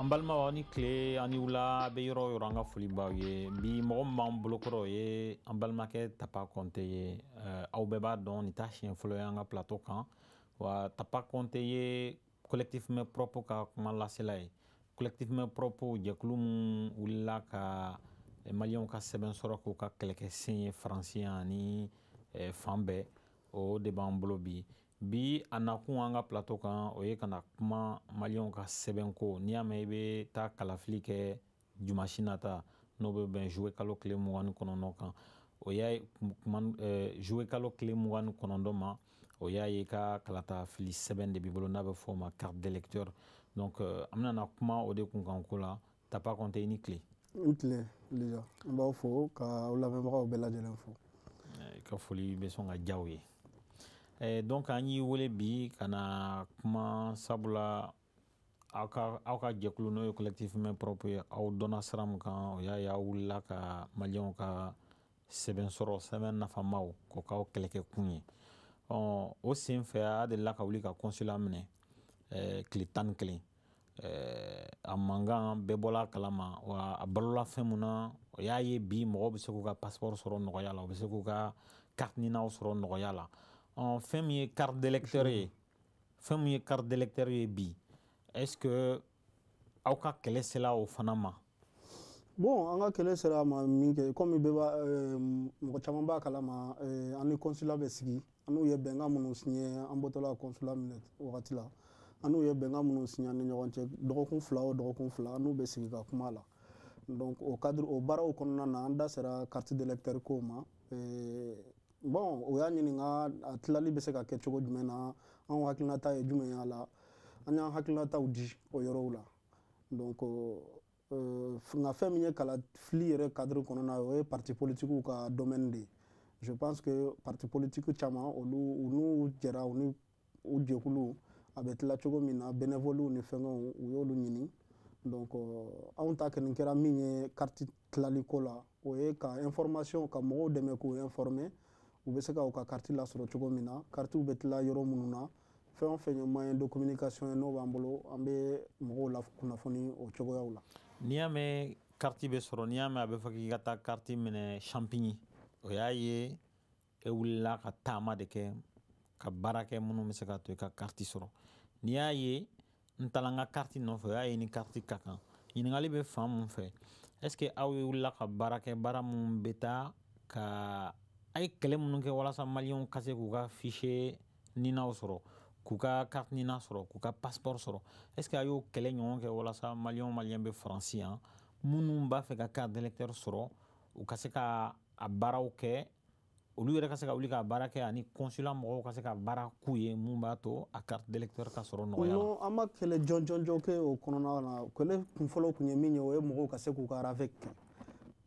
an balimaw aw ni tile aw ni wula aw bɛ yɔrɔ o yɔrɔ an ka foli b'aw ye bi mɔgɔ min b'an bolokɔrɔ o ye an balimakɛ tapa kɔnte ye aw bɛɛ b'a dɔn nin t'a siɲɛ fɔlɔ ye an ka plateau kan wa tapa kɔnte ye collectif mains propres ka kumalasela ye collectif mains propres jɛkulu min wulila ka eh, maliyɛnw ka sɛbɛn sɔrɔ k'u ka kɛlɛkɛ sen ye faransi yan ani eh, fan bɛɛ o de b'an bolo bi bi a nakun an ka plateau kan o ye ka na kuma maliyɛnw ka sɛbɛnko n'i y'a mɛn i bɛ taa kalafili kɛ dimansi nata n'o bɛ bɛn zuye kalo tile mugan ni kɔnɔntɔn kan o y'a ye eh, zuye kalo tile mugan ni kɔnɔntɔn ma o y'a ye ka kalata fili sɛbɛn de b'i bolo n'a bɛ fɔ o ma carte d'électeur donc euh, an bɛna na kuma o de kunkanko la tapa kɔnte i ni tile n tile lija n b'aw fo ka aw lamɛnbagaw bɛɛ lajɛlen fo eh, i ka foli bɛ sɔn ka diyaw ye eh, donc an y'i wele bi ka na kuma sabula aw ka aw ka jɛkulu n'o ye collectif mains propres ye aw dɔnna sira min kan o y'a ye aw wulila ka maliyɛnw ka sɛbɛn sɔrɔ sɛbɛn nafamaw k'o k'aw kɛlɛkɛ kun ye ɔ o sen fɛ aw delila ka wuli ka consulat minɛ eh, tile tan ni kelen eh, a mankan bɛɛ bɔla a kalama wa a balola fɛn min na o y'a ye bi mɔgɔw bɛ se k'u ka passeport sɔrɔ nɔgɔya la u bɛ se k'u ka carte ninaw sɔrɔ nɔgɔya la ɔ fɛn min ye carte d'électeur ye fɛn min ye carte d'électeur ye bi est ce que aw ka kɛlɛ sela o fana ma bon an ka kɛlɛ sera a ma min kɛ komi bɛɛ b'a euh, mɔgɔ caman b'a kalama euh, an ni consulat bɛ sigi an n'u ye bɛnkan minnu siɲɛ an bɔtɔla consulat minɛ wagati la an n'u ye bɛnkan minnu siɲɛ an ni ɲɔgɔn cɛ dɔgɔkun fila o dɔgɔkun fila an n'u bɛ sigi ka kuma la donc o cadre o baaraw kɔnɔna na an da sera carte d'électeur kow ma euh, bon u y'a ɲininka a tilali bɛ se ka kɛ cogo jumɛn na anw hakilinata ye jumɛn y'a la an y'an hakilinataw di o yɔrɔw la donc euh, nka fɛn min ye kalafili yɛrɛ cadre kɔnɔna o ye parti politikiw ka domaine de ye je pense que parti politiki caman olu u n'u jɛra u ni u jɛkulu a bɛ tila cogo min na bénévolew ni fɛnkɛw u y'olu ɲini donc euh, anw ta kɔni kɛra min ye kariti tilali ko la o ye ka information ka mɔgɔw dɛmɛ k'u informer u bɛ se ka u ka kariti lasɔrɔ cogo min na karitiw bɛ tila yɔrɔ minnu na fɛn o fɛn ye moyen de communication ye n'o b'an bolo an bɛ mɔgɔw lakunnafoni o cogoyaw la n'i y'a mɛn kariti bɛ sɔrɔ n'i y'a mɛn a bɛ fɔ k'i ka taa kariti minɛ champigny o y'a ye e wulila ka taama de kɛ ka baara kɛ minnu bɛ se k'a to i ka kariti sɔrɔ n'i y'a ye n taara n ka kariti nɔfɛ o y'a ye ni kariti ka kan ɲininkali bɛ fan mun fɛ est ce que aw ye wulila ka baara kɛ baara minnu bɛ taa ka a ye kɛlɛ minnu kɛ walasa maliyɛnw ka se k'u ka fiche ninaw sɔrɔ k'u ka carte nina sɔrɔ k'u ka passeport sɔrɔ est ce que a y'o kɛlɛ ɲɔgɔn kɛ walasa maliyɛnw maliyɛn bɛ faransi yan minnu b'a fɛ ka carte d'électeur sɔrɔ u ka se ka a baaraw kɛ olu yɛrɛ ka se ka wuli ka baara kɛ ani consulat mɔgɔw ka se ka baara k'u ye mun b'a to a carte d'électeur ka sɔrɔ nɔgɔya non an ma kɛlɛ jɔn jɔn jɔn kɛ o kɔnɔna na kɛlɛ kun fɔlɔ kun ye min ye o ye mɔgɔw ka se k'u ka ravec kɛ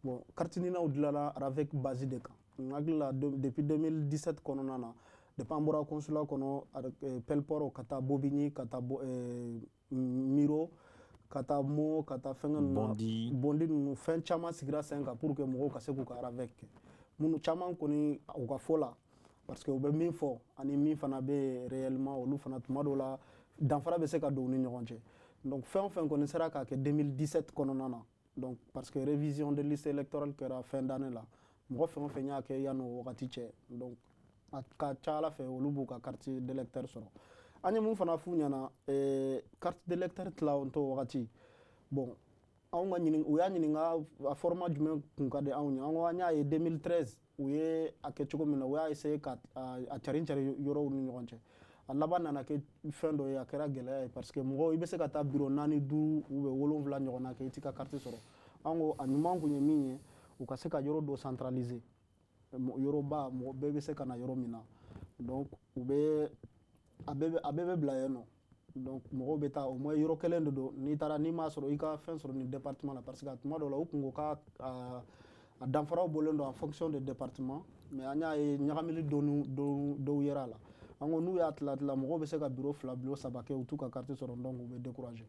bon kartininaw dilala ravec base de kan n hakili la depuis 2017 kɔnɔna na depuis an bɔra consulat kɔnɔ eh, pelleport ka taa bobigny ka taa eh, mureaux ka taa meaux ka taa fɛnkɛ ninnu bondy ninnu fɛn caman sigira sen kan pour que mɔgɔw ka se k'u ka ravec kɛ minnu caman kɔni u ka fɔ la parce que u bɛ min fɔ ani min fana bɛ réellement olu fana tuma dɔw la danfara bɛ se ka don u ni ɲɔgɔn cɛ donc fɛn o fɛn kɔni sera k'a kɛ 2017 kɔnɔna na donc parce que révision de liste électorale kɛra fin d'année la mɔgɔ fɛn o fɛn y'a kɛ yanni o wagati cɛ donc a ka c'a la fɛ olu b'u ka carte d'électeur sɔrɔ an ye mun fana f'u ɲɛna eh, carte d'électeur tilawonto wagati bon anw ka ɲinin u y'an ɲininka a format jumɛn kun ka di anw ye an ko an y'a ye 2013 u ye a kɛ cogo min na u y'a essayer ka a carin cari yɔrɔw ni ɲɔgɔn cɛ a laban nana kɛ fɛn dɔ ye a kɛra gɛlɛya ye parce que mɔgɔ i bɛ se ka taa biro naani duuru u bɛ wolonwula ɲɔgɔnna kɛ i t'i ka kariti sɔrɔ an ko a ɲuman kun ye min ye u ka se ka yɔrɔ dɔ centraliser yɔrɔba mɔgɔ bɛɛ bɛ se ka na yɔrɔ min na donc u bɛ a bɛɛ bɛ bila yen nɔ donc mɔgɔw bɛ taa o ma yɔrɔ kelen de don n'i taara n'i m'a sɔrɔ i ka fɛn sɔrɔ nin département la parce que a tuma dɔw la u kun ko ka a danfaraw bɔlen don en fonction de département mais an y'a ye ɲagamili dɔɔnin dɔw yera a la an ko n'u y'a tila tila mɔgɔw bɛ se ka biro fila biro saba kɛ u t'u ka carte sɔrɔ donc u bɛ décourager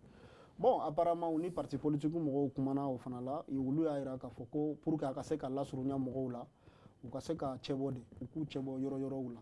bon apparemment u ni parti politique mɔgɔw kumana o fana la olu y'a jira k'a fɔ ko pour que a ka se ka lasurunya mɔgɔw la u ka se ka cɛbɔ de u k'u cɛbɔ yɔrɔ yɔrɔw la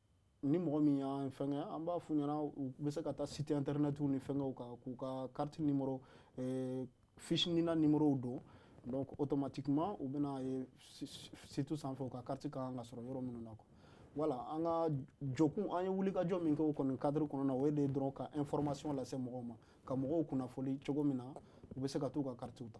ni mɔgɔ min y'an fɛnkɛ an b'a f'u ɲɛna u bɛ se ka taa site internet ni fɛnkɛw kan k'u ka carte nimoro eh, fiche nina nimorow don donc automatiquement u bɛn'a ye site sanfɛ u ka carte ka kan ka sɔrɔ yɔrɔ minnu na quoi voilà an ka jɔkun an ye wulikajɔ min kɛ o kɔni cadre kɔnɔ na o ye de dɔrɔn ka information lase mɔgɔw ma ka mɔgɔw kunnafoli cogo min na u bɛ se ka t'u ka carte ta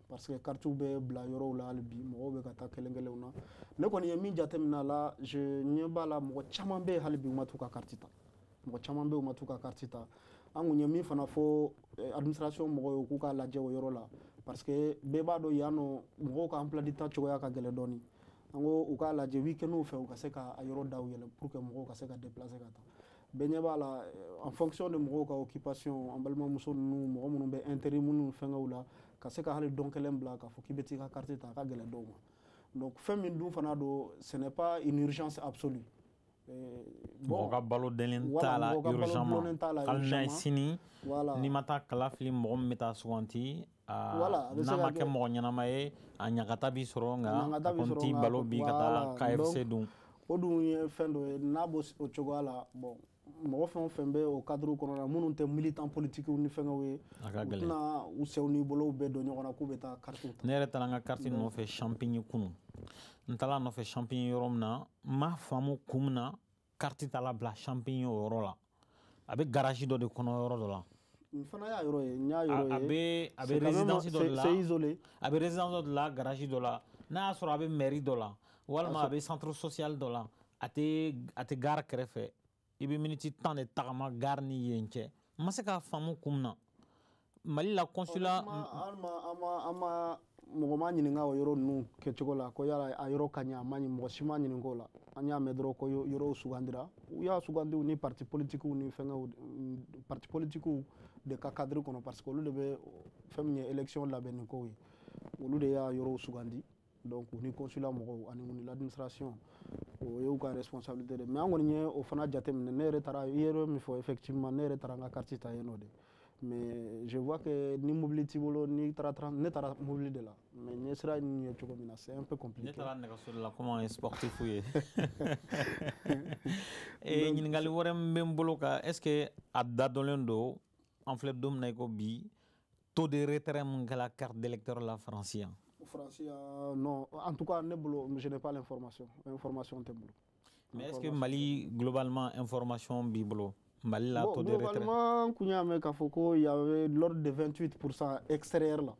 parce que karitiw bɛ bila yɔrɔw la hali bi mɔgɔw bɛ ka taa kelen kelenw na ne kɔni ye min jateminɛ a la je ɲɛ b'a la mɔgɔ caman bɛ yen hali bi u ma t'u ka kariti ta mɔgɔ caman bɛ yen u ma t'u ka kariti ta an kun ye min fana fɔ eh, administration mɔgɔw ye k'u k'a lajɛ o yɔrɔ la parce que bɛɛ b'a dɔn yan nɔ mɔgɔw ka emploi du temps cogoya ka gɛlɛn dɔɔni an ko u k'a lajɛ weekend fɛ u ka se ka a yɔrɔ daw yɛlɛ pour que mɔgɔw ka se ka déplacer ka taa bɛɛ ɲɛ b'a la en fonction de mɔgɔw ka occupation an balimamuso ninnu mɔgɔ minnu bɛ intérim ninnu fɛngɛw la ka se ka hali don kelen bila k'a fɔ k'i bɛ t'i ka carte ta a ka gɛlɛn dɔw ma donc fɛn min dun fana don ce n'est pas une urgence absolue euh, mɔgɔ ka balo dɛnlen t'a la urgemment hali n'a ye sini n'i ma taa kala fili mɔgɔ min bɛ taa suganti Ah, n'a ma kɛ mɔgɔ ɲɛnama ye a ɲagata b'i sɔrɔ nka a kɔni t'i bali bi ka taa kfc dun o dun ye fɛn dɔ ye n'a b'o o cogoya la bɔn mɔgɔ fɛn o fɛn bɛ o kaduru kɔnɔ na minnu tɛ militan politikiw ni fɛnkɛw ye tɛna u senw ni bolow bɛɛ don ɲɔgɔn na k'u bɛ taa karitiw ta ne yɛrɛ taara n ka kariti nɔfɛ champigny kunu n taara a nɔfɛ champigny yɔrɔ min na n m'a faamu kun min na kariti taala bila champigny o yɔrɔ la a bɛ garage dɔ de kɔnɔ yɔrɔ dɔ la n fana y'a yɔrɔ ye n y'a yɔrɔ ye a bɛ a bɛ résidence dɔ de la c'est isolé a bɛ résidence dɔ de la garage dɔ la n'a y'a sɔrɔ a bɛ mairie dɔ la walima a bɛ centre social dɔ la a tɛ a tɛ gare kɛrɛfɛ i bɛ miniti tan de tagama gare ni yen cɛ n ma se k'a faamu kun min na mali la consulat mɔgɔ ma ɲininka o yɔrɔ ninnu kɛcogo la ko yala a yɔrɔ ka ɲi a ma ɲi mɔgɔ si ma ɲininka o la an y'a mɛn dɔrɔn ko yɔrɔw sugandira u y'a sugandi u ni parti politikiw ni fɛngɛw parti politikiw de ka kadiri kɔnɔ parce que olu de bɛ fɛn min ye élection labɛnni kow ye olu de y'a yɔrɔw sugandi donc u ni consulat mɔgɔw ani u ni l'administration o y'u ka responsabilité de mais an kɔni ye o fana jateminɛ ne yɛrɛ taara i ye yɔrɔ min fɔ effectivement ne yɛrɛ taara n ka carte ta yen nɔ de mais je vois que ni mobili t'i bolo n'i taara train ne taara mobili de la mais n ye sira in ye cogo min na c'est un peu compliqué ne taara nɛgɛso de la komi an ye sportif ye ee ɲininkali wɛrɛ min bɛ n bolo ka est ce que a da dɔnlen don an filɛ don min na i ko bi taux de retrait mun kɛla carte d'électeur la faransi yan faransi yan non en tout cas ne bolo je n'ai pas l'information information tɛ n bolo mais est ce que mali globalement information b'i bolo mali la taux de retrait globalement n kun y'a mɛn k'a fɔ ko y avait l'ordre de 28 pourcent extérieur la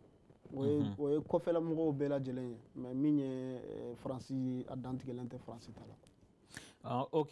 o ye mhm. o ye kɔfɛla mɔgɔw bɛɛ lajɛlen ye mais min ye faransi a dantigɛlen tɛ faransi ta la ah, ok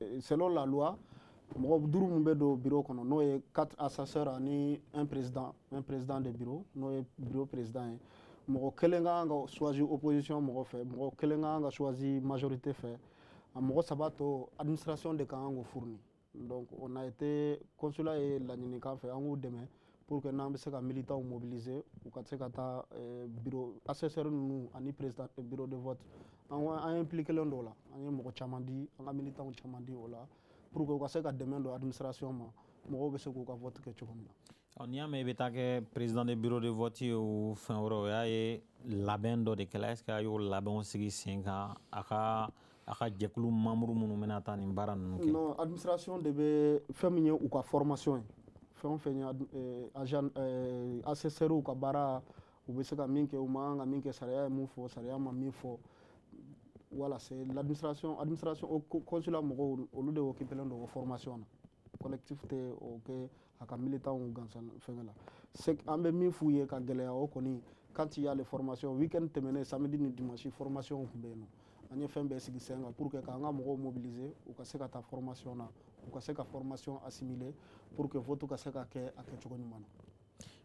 Eh, selon la loi mɔgɔ duuru min bɛ don bureau kɔnɔ n'o ye quatre assesseurs ani un président un président de bureau n'o ye bureau président ye mɔgɔ kelen ka kan ka choisi opposition mɔgɔ fɛ mɔgɔ kelen ka kan ka choisi majorité fɛ a mɔgɔ saba to administration de ka kan k'o fourni donc on a été consulat ye laɲini k'an fɛ an k'u dɛmɛ pour que n'an bɛ se ka militants mobiliser u ka se ka taa eh, bureau assesseur ninnu ani président eh, bureau de vote an an impliquelen don o la an ye mɔgɔ caman di an ka militants caman di o la pour que u ka se ka dɛmɛ don administration ma mɔgɔw bɛ se k'u ka vote kɛ cogo min na. n'i y'a mɛn i bɛ taa kɛ président de bureau de vote ye o fɛn wɛrɛ o y'a ye labɛn dɔ de kɛla est ce que a y'o labɛnw sigi sen kan a ka. a ka jɛkulu membres minnu bɛna taa nin baara ninnu kɛ non administration de bɛ fɛn min ye u ka formation ye fɛn o fɛn ye eh, agent eh, assesseur ka baara u bɛ se ka min kɛ u man kan ka min kɛ sariya ye mun fɔ sariya ma min fɔ voilà c'est l'administration administration o consulat mɔgɔw olu de occupelen don o formation na collectif tɛ o kɛ a ka militanw gansan fɛngɛ la an bɛ min f'u ye k'a gɛlɛya o kɔni quand il y a les formations week-end tɛmɛnen samedi ni dimanche formation tun bɛ yen nɔ an ye fɛn bɛɛ sigi sen kan pour que k'an ka mɔgɔw mobiliser u ka se ka taa formation na u ka se ka formation assimiler pour que vote ka se ka kɛ a kɛcogo ɲuman na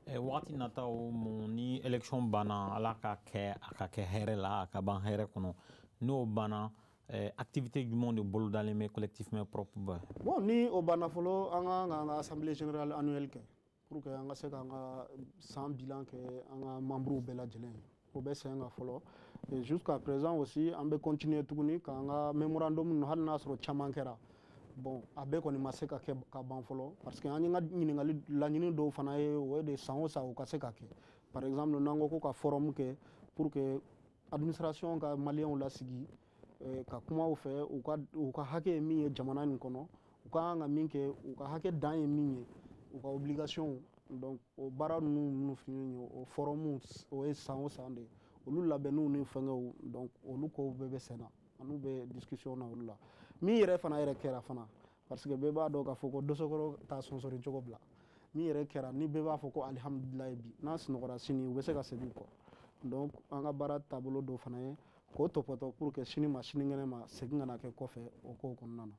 Eh, wagati nataw mun ni election banna ala k'a kɛ a ka kɛ hɛrɛ la a ka ban hɛrɛ kɔnɔ n'o banna Eh, activité jumɛnw de bolodalen bɛ collectif mains propres ba bon ni o banna fɔlɔ an ka kan ka assemblée générale annuelle kɛ pour que an ka se k'an ka san bilan kɛ an ka membres bɛɛ lajɛlen ye o bɛ sen kan fɔlɔ et jusqu'à présent aussi an bɛ continuer tuguni k'an ka memorandum ninnu hali n'a sɔrɔ caman kɛra bon a bɛɛ kɔni ma se ka kɛ ka ban fɔlɔ parce que an ka ɲininkali laɲini dɔw fana ye o ye de san o san o ka se ka kɛ par exemple n'an ko ko ka forum kɛ pour que administration ka maliyɛnw lasigi eh, ka kuma u fɛ u ka u ka hakɛ ye min ye jamana nin kɔnɔ u ka kan ka min kɛ u ka hakɛ dan ye min ye u ka obligation donc o baara ninnu minnu fini ye o forum o ye san o san de olu labɛnniw ni fɛngɛw donc olu kow bɛɛ bɛ senna an n'u bɛ discussion na olu la min yɛrɛ fana yɛrɛ kɛra fana parce que bɛɛ b'a dɔn k'a fɔ ko dosokɔrɔ t'a sonsori cogo bila min yɛrɛ kɛra ni bɛɛ b'a fɔ ko alihamudulilayi bi n'an sunɔgɔra sini o bɛ se ka segin kɔ donc an ka baara taabolo dɔ fana ye k'o topoto pour que sini ma sinikɛnɛ ma segin kana kɛ kɔfɛ o kow kɔnɔna na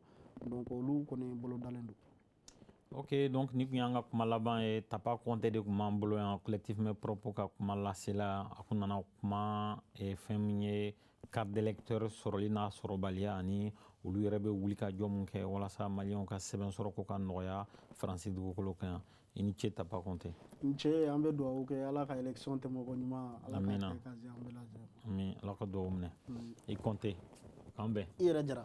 donc olu kɔni bolodalen don ok donc nin tun y'an ka kuma laban ye tapa kɔnte de tun b'an bolo yan collectif mains propres ka kumalasela a kun nana kuma eh, fɛn min ye carte d'électeur sɔrɔli n'a sɔrɔbaliya ani olu yɛrɛ bɛ wulikajɔ mun kɛ walasa maliyɛnw ka sɛbɛn sɔrɔ ko ka nɔgɔya faransi dugukolo kan yan i ni ce tapa kɔnte n ce an bɛ dugawu kɛ ala ka élection tɛmɛ koɲuman ala k'a kɛ ka se an bɛɛ lajɛlen ami ala ka dugawu minɛ i kɔnte k'an bɛn i yɛrɛ jara